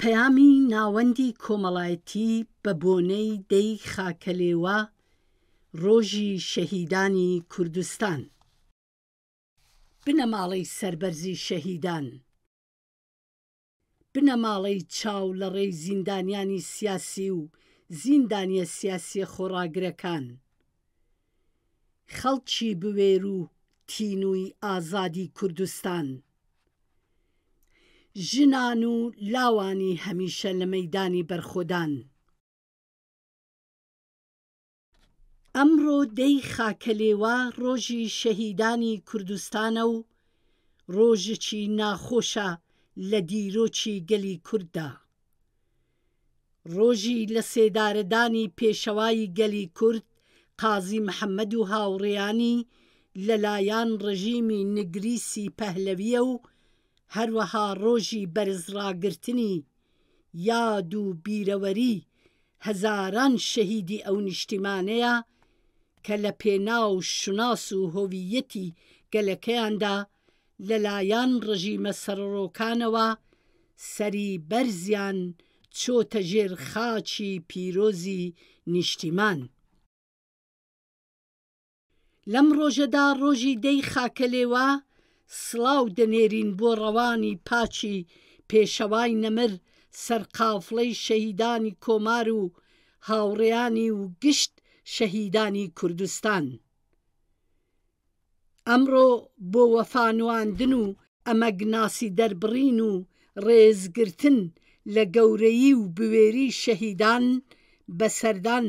پەیامی ناوەندی کۆمەڵایەتی بە بۆنەی دەی خاکەلێوە ڕۆژی شەهیدانی کوردستان بنەماڵەی سەربەرزی شەهیدان بنەماڵەی چاو لە ڕێی زیندانیانی سیاسی و زیندانیە سیاسیە خۆڕاگرەکان خەڵکی بوێر و تینووی ئازادی کوردستان. ژنان و لاوانی هەمیشە لە مەیدانی بەرخۆدان. ئەمڕۆ دە ی خاکەلێوا ڕۆژی شەهیدانی کوردستانە و ڕۆژێکی ناخۆشە لە دیرۆکی گەلی کورددا ڕۆژی لەسێدارەدانی پێشەوای گەلی کورد قازی محەمەد و هاوڕێیانی لەلایەن ڕژیمی نگریسی پەهلەویە و هەروەها ڕۆژی بەرزڕاگرتنی یاد و بیرەوەری هەزاران شەهیدی ئەو نیشتیمانەیە کە لەپێناو شوناس و هۆوییەتی گەلەکەیاندا لەلایەن ڕژیمە سەرڕۆکانەوە سەری بەرزیان چۆتە ژێر خاچی پیرۆزی نیشتیمان. لەم ڕۆژەدا ڕۆژی دە ی خاکەلێوە سڵاو دەنێرین بۆ ڕەوانی پاکی پێشەوای نەمر سەرقافڵەی شەهیدانی کۆمار و هاوڕێیانی و گشت شەهیدانی کوردستان. ئەمڕۆ بۆ وەفا نواندن و ئەمەگناسی دەربڕین و ڕێزگرتن لە گەورەیی و بوێری شەهیدان بە سەردان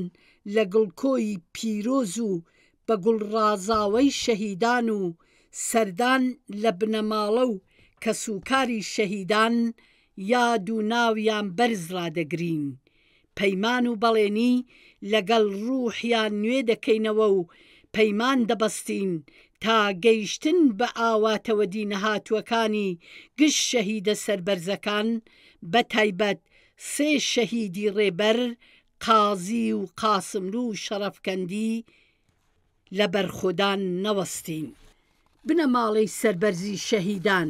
لە گڵکۆی پیرۆز و بە گوڵ ڕازاوەی شەهیدان و سەردان لە بنەماڵە و کەسوکاری شەهیدان یاد و ناویان بەرز ڕادەگرین پەیمان و بەڵێنی لەگەڵ ڕووحیان نوێ دەکەینەوە و پەیمان دەبەستین تا گەیشتن بە ئاواتەوە دینەهاتووەکانی گشت شەهیدە سەربەرزەکان بە تایبەت سێ شەهیدی ڕێبەر قازی و قاسملوو و شەڕەفکەندی لە بەرخۆدان نەوەستین. بنەماڵەی سەربەرزی شەهیدان.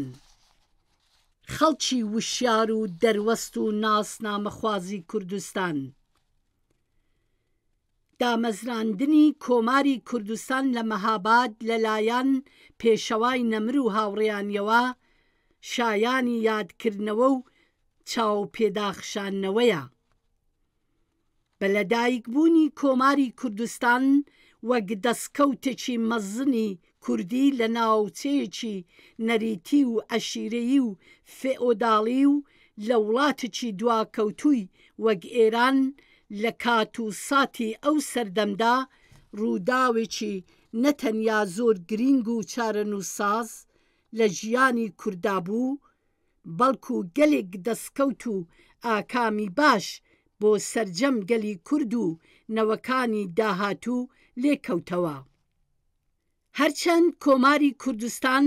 خەڵکی وشیار و دەروەست و ناسنامەخوازی کوردستان دامەزراندنی کۆماری کوردستان لە مەهاباد لە لایەن پێشەوای نەمر و هاوڕێیانیەوە شایانی یادکردنەوە و چاوپێداخشانەوەیە. بە لەدایکبوونی کۆماری کوردستان وەک دەستکەوتێکی مەزنی کوردی لە ناوچەیەکی نەریتی و عەشیرەیی و فئۆداڵی و لە وڵاتێکی دواکەوتووی وەک ئێران لە کات و ساتی ئەو سەردەمدا، ڕووداوێکی نە تەنیا زۆر گرینگ و چارەنووسساز لە ژیانی کورددا بوو، بەڵکو گەلێک دەستکەوت و ئاکامی باش بۆ سەرجەم گەلی کورد و نەوەکانی داهاتوو لێکەوتەوە. هەرچەند کۆماری کوردستان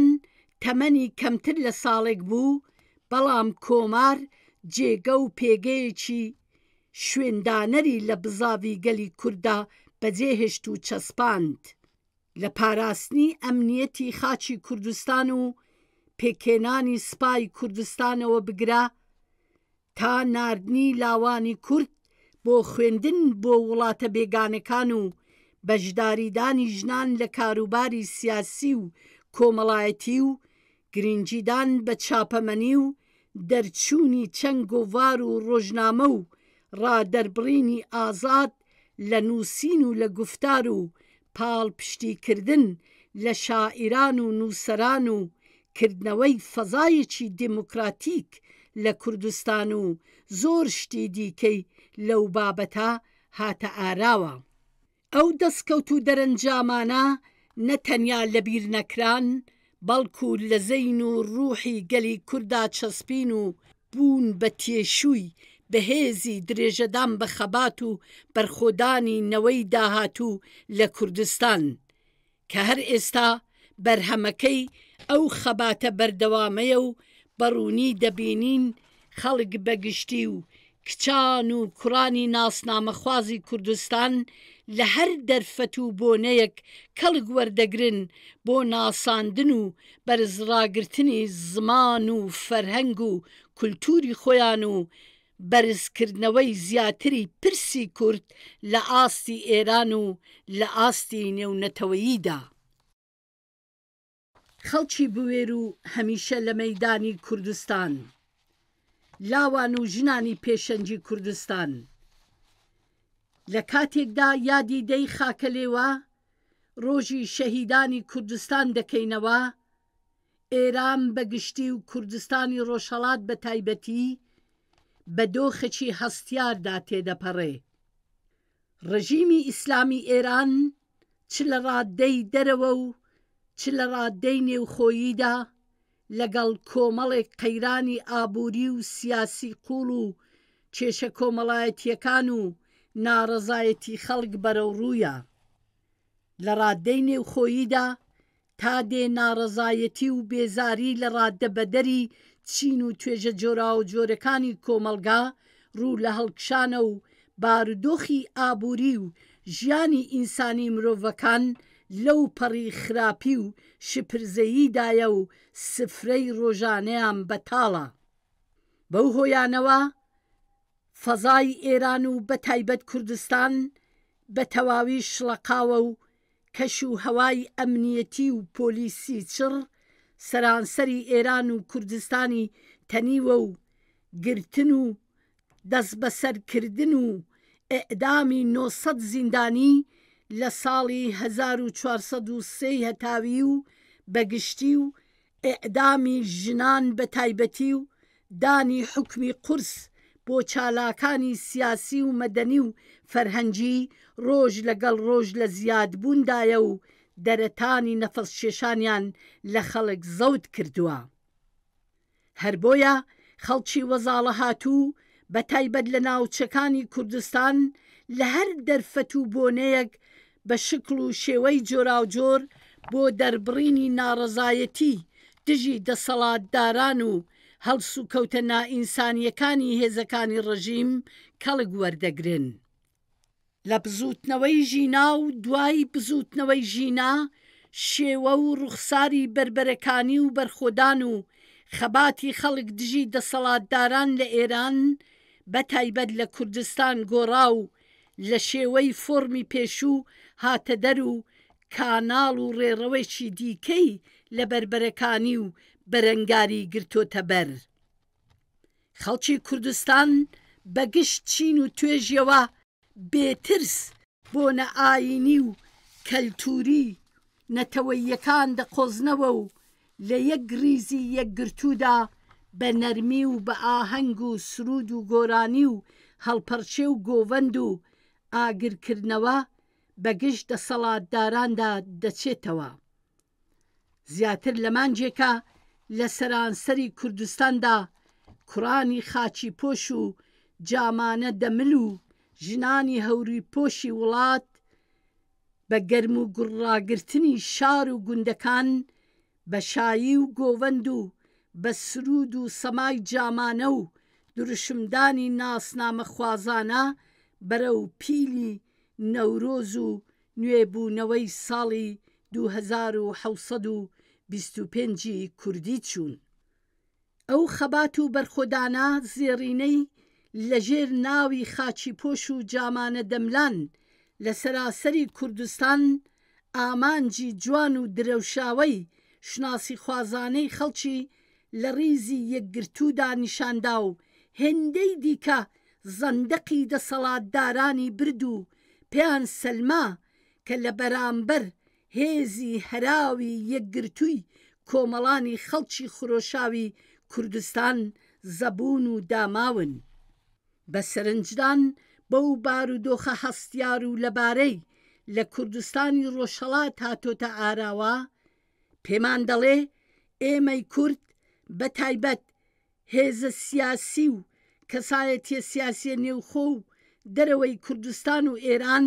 تەمەنی کەمتر لە ساڵێک بوو، بەڵام کۆمار جێگە و پێگەیەکی شوێندانەری لە بزاڤی گەلی کورددا بەجێهێشت و چەسپاند. لە پاراستنی ئەمنیەتی خاکی کوردستان و پێکهێنانی سوپای کوردستانەوە بگرە تا ناردنی لاوانی کورد بۆ خوێندن بۆ وڵاتە بێگانەکان و بەشداریدانی ژنان لە کاروباری سیاسی و کۆمەڵایەتی و گرنگیدان بە چاپەمەنی و دەرچوونی چەند گۆڤار و ڕۆژنامە و ڕادەربڕینی ئازاد لە نووسین و لە گوفتار و پاڵپشتیکردن لە شاعیران و نووسەران و کردنەوەی فەزایەکی دێموکراتیک لە کوردستان و زۆر شتی دیکەی لەو بابەتە هاتە ئاراوە. ئەو دەسکەوت و دەرەنجامانە نە تەنیا لە بیر نەکران بەڵکو لە زەین و ڕوحی گەلی کوردا چەسپین و بوون بە تێشووی بەهێزی درێژەدان بە خەبات و بەرخۆدانی نەوەی داهاتوو لە کوردستان. کە هەر ئێستا بەرهەمەکەی ئەو خەباتە بەردەوامەیە و بە ڕوونی دەبینین خەڵک بە گشتی و کچان و کوڕانی ناسنامەخوازی کوردستان لە هەر دەرفەت و بۆنەیەک کەڵک وەردەگرن بۆ ناساندن و بەرزڕاگرتنی زمان و فەرهەنگ و کولتووری خۆیان و بەرزکردنەوەی زیاتری پرسی کورد لە ئاستی ئێران و لە ئاستی نێونەتەوەییدا. خەڵکی بوێر و هەمیشە لە مەیدانی کوردستان، لاوان و ژنانی پێشەنگی کوردستان، لە کاتێکدا یادی دە ی خاکەلێوە، ڕۆژی شەهیدانی کوردستان دەکەینەوە، ئێران بە گشتی و کوردستانی ڕۆژهەڵات بە تایبەتی بە دۆخێکی هەستیاردا تێدەپەڕێ. ڕژیمی ئیسلامی ئێران چ لە ڕاددەی دەرەوە و چ لە ڕاددەی نێوخۆییدا لەگەڵ کۆمەڵێک قەیرانی ئابووری و سیاسی قووڵ و کێشە کۆمەڵایەتییەکان و ناڕەزایەتی خەڵک بەرەوڕوویە. لە ڕاددەی نێوخۆییدا، تا دێ ناڕەزایەتی و بێزاری لە ڕاددەبەدەری چین و توێژە جۆراوجۆرەکانی کۆمەڵگا ڕوو لە هەڵکشانە و بارودۆخی ئابووری و ژیانی ئینسانی مرۆڤەکان لەو پەڕی خراپی و شپرزەییدایە و سفرەی ڕۆژانەیان بەتاڵە بەو هۆیانەوە فەزای ئێران و بەتایبەت کوردستان بەتەواوی شڵەقاوە و کەش و هەوای ئەمنییەتی و پۆلیسی چڕ سەرانسەری ئێران و کوردستانی تەنیوە و گرتن و دەسبەسەر کردن و ئێعدامی نۆ سەد زیندانی لە ساڵی هەزار و چوار سەد و سێ ی هەتاوی و بە گشتی و ئێعدامی ژنان بە تایبەتی و دانی حوکمی قورس بۆ چالاکانی سیاسی و مەدەنی و فەرهەنگی ڕۆژ لە گەڵ ڕۆژ لە زیاد بووندایە و دەرەتانی نەفەس کێشانیان لە خەڵک زەوت کردووە هەر بۆیە خەڵکی وەزاڵەهاتوو بە تایبەت لە ناوچەکانی کوردستان لە هەر دەرفەت و بۆنەیەک بە شکڵ و شێوەی جۆراوجۆر بۆ دەربڕینی ناڕەزایەتی دژی دەسەڵاتداران و هەڵسوکەوتە نائینسانییەکانی هێزەکانی ڕژیم کەڵک وەردەگرن. لە بزووتنەوەی ژینا و دوای بزووتنەوەی ژینا، شێوە و ڕوخساری بەربەرەکانی و بەرخۆدان و خەباتی خەڵک دژی دەسەڵاتداران لە ئێران، بە تایبەت لە کوردستان گۆڕا و لە شێوەی فۆڕمی پێشوو هاتەدەر و کاناڵ و ڕێڕەوێکی دیکەی لە بەربەرەکانی و بەرەنگاری گرتۆتەبەر. خەڵکی کوردستان بە گشت چین و توێژیەوە بێ ترس بۆنە ئایینی و کەلتووری نەتەوەییەکان دەقۆزنەوە و لە یەک ریزی یەکگرتوودا بە نەرمی و بە ئاهەنگ و سروود و گۆرانی و هەڵپەڕکێ و گۆڤەند و ئاگرکردنەوە بە گژ دەسەڵاتداراندا دەچێتەوە زیاتر لە مانگێکە لە سەرانسەری کوردستاندا کوڕانی خاچیپۆش و جامانە دەمل و ژنانی هەوریپۆشی وڵات بە گەرم و گوڕ ڕاگرتنی شار و گوندەکان بە شایی و گۆڤەند و بە سروود و سەمای جامانە و دروشمدانی ناسنامەخوازانە بەرەو پیلی نەورۆز و نوێبوونەوەی ساڵی دوو هەزار و حەوت سەد و بیست و پێنج ی کوردی چوون. ئەو خەبات و بەرخۆدانە زێڕینەی لە ژێر ناوی خاچی پۆش و جامانە دەملان لە سەراسەری کوردستان ئامانجی جوان و درەوشاوەی شوناسیخوازانەی خەڵکی لە ڕیزی یەکگرتوودا نیشاندا و هێندەی دیکە زەندەقی دەسەڵاتدارانی برد و پێیان سەلما کە لە بەرامبەر هێزی هەراوی یەکگرتووی کۆمەڵانی خەڵکی خرۆشاوی کوردستان زەبوون و داماون بە سەرنجدان بەو بارودۆخە هەستیار و لەبارەی لە کوردستانی ڕۆژهەڵات هاتۆتە ئاراوە پێمان دەڵێ ئێمەی کورد بە تایبەت هێزە سیاسی و کەسایەتیە سیاسیە نێوخۆ و دەرەوەی کوردستان و ئێران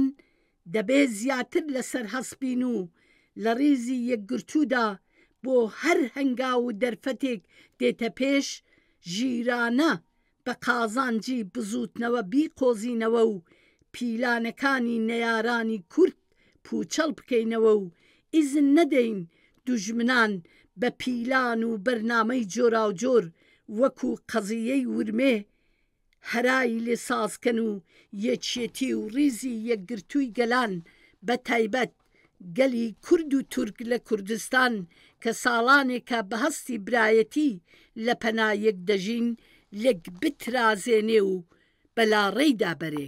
دەبێ زیاتر لەسەر هەست بین و لە ڕیزی یەکگرتوودا بۆ هەر هەنگاو و دەرفەتێک دێتە پێش ژیرانە بە قازانجی بزووتنەوە بیقۆزینەوە و پیلانەکانی نەیارانی کورد پوچەڵ بکەینەوە و ئیزن نەدەین دوژمنان بە پیلان و بەرنامەی جۆراوجۆر وەکو قەزیەی ورمێ هەرای لێ سازکەن و یەکیەتی و ڕیزی یەکگرتووی گەلان بە تایبەت گەلی کورد و تورک لە کوردستان کە ساڵانێکە بە هەستی برایەتی لە پەنا یەک دەژین لێک بترازێنێ و بە لاڕێیدا بەرێ.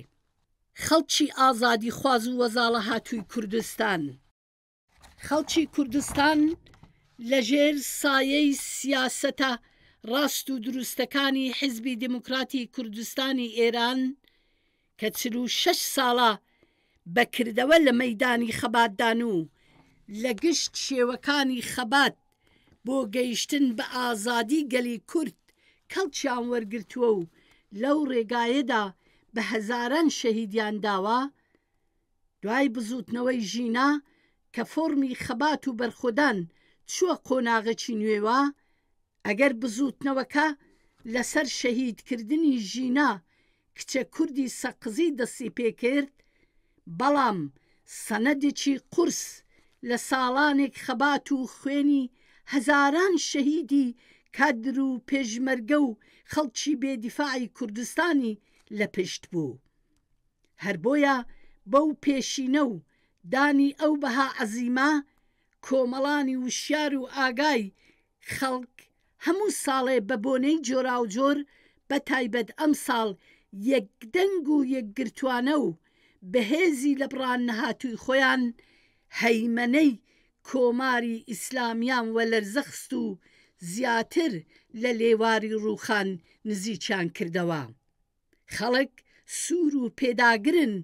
خەڵکی ئازادیخواز و وەزاڵەهاتووی کوردستان. خەڵکی کوردستان لە ژێر سایەی سیاسەتە ڕاست و دروستەکانی حیزبی دێموکراتی کوردستانی ئێران کە چل و شەش ساڵە بە کردەوە لە مەیدانی خەباتدان و لە گشت شێوەکانی خەبات بۆ گەیشتن بە ئازادی گەلی کورد کەڵکیان وەرگرتووە و لەو ڕێگایەدا بە هەزاران شەهیدیان داوە، دوای بزووتنەوەی ژینا کە فۆڕمی خەبات و بەرخۆدان چووە قۆناغێکی نوێوە، ئەگەر بزووتنەوەکە لەسەر شەهیدکردنی ژینا کچە کوردی سەقزی دەستی پێ کرد، بەڵام سەنەدێکی قورس لە ساڵانێک خەبات و خوێنی هەزاران شەهیدی کادر و پێشمەرگە و خەڵکی بێ دیفاعی کوردستانی لە پشت بوو. هەر بۆیە بەو پێشینە و دانی ئەو بەها عەزیمە، کۆمەڵانی وشیار و ئاگای خەڵک هەموو ساڵێ بە بۆنەی جۆراوجۆر بە تایبەت ئەمساڵ یەک دەنگ و یەک گرتوانە و بە هێزی لە بڕان نەهاتووی خۆیان هەیمەنەی کۆماری ئیسلامیان وە لەرزە خست و زیاتر لە لێواری ڕووخان نزیکیان کردەوە. خەڵک سوور و پێداگرن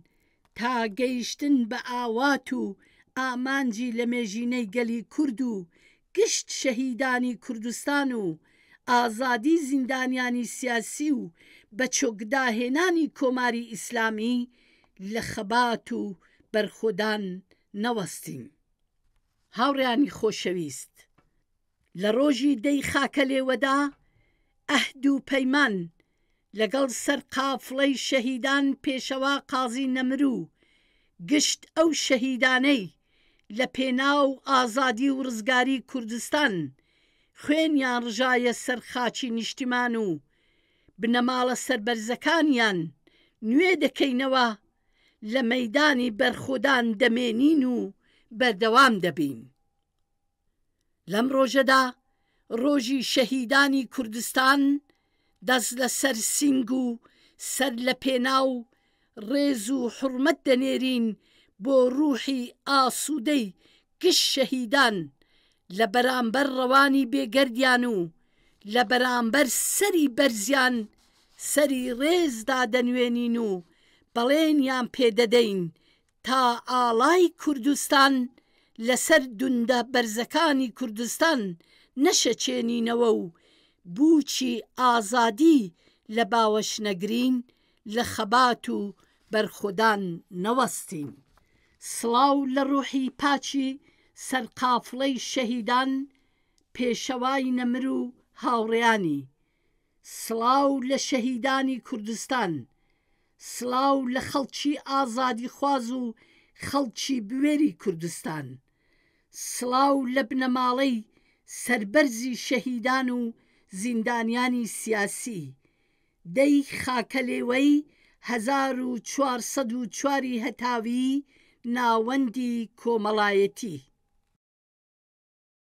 تا گەیشتن بە ئاوات و ئامانجی لەمێژینەی گەلی کورد و گشت شەهیدانی کوردستان و ئازادی زیندانیانی سیاسی و بەچۆکداهێنانی کۆماری ئیسلامی لە خەبات و بەرخۆدان نەوەستین. هاوڕێیانی خۆشەویست! لە ڕۆژی دە ی خاکەلێوەدا ئەهد و پەیمان لەگەڵ سەر قافڵەی شەهیدان پێشەوا قازی نەمرو گشت ئەو شەهیدانەی لە پێناو ئازادی و ڕزگاری کوردستان خوێنیان ڕژایە سەر خاکی نیشتیمان و بنەماڵە سەربەرزەکانیان نوێ دەکەینەوە لە مەیدانی بەرخۆدان دەمێنین و بەردەوام دەبین. لەم ڕۆژەدا ڕۆژی شەهیدانی کوردستان دەست لە سەر سینگ و سەر لە پێناو ڕێز و حورمەت دەنێرین بۆ ڕوحی ئاسودەی گشت شەهیدان لە بەرامبەر ڕەوانی بێ گەردیان و لە بەرامبەر سەری بەرزیان سەری ڕێز دادەنوێنین و بەڵێنیان پێ دەدەین تا ئاڵای کوردستان لەسەر دوندە بەرزەکانی کوردستان نەشەچێنینەوە و بووکی ئازادی لە باوەش نەگرین، لە خەبات و بەرخۆدان نەوەستین. سڵاو لە ڕووحی پاکی سەرقافڵەی شەهیدان، پێشەوای نەمر و هاوڕێیانی. سڵاو لە شەهیدانی کوردستان، سڵاو لە خەڵکی ئازادیخواز و خەڵکی بوێری کوردستان، سڵاو لە بنەماڵەی سەربەرزی شەهیدان و زیندانیانی سیاسی، دەی خاکەلێوەی هەزار و چوار سەد و چوار ی هەتاویی ناوەندی کۆمەڵایەتی.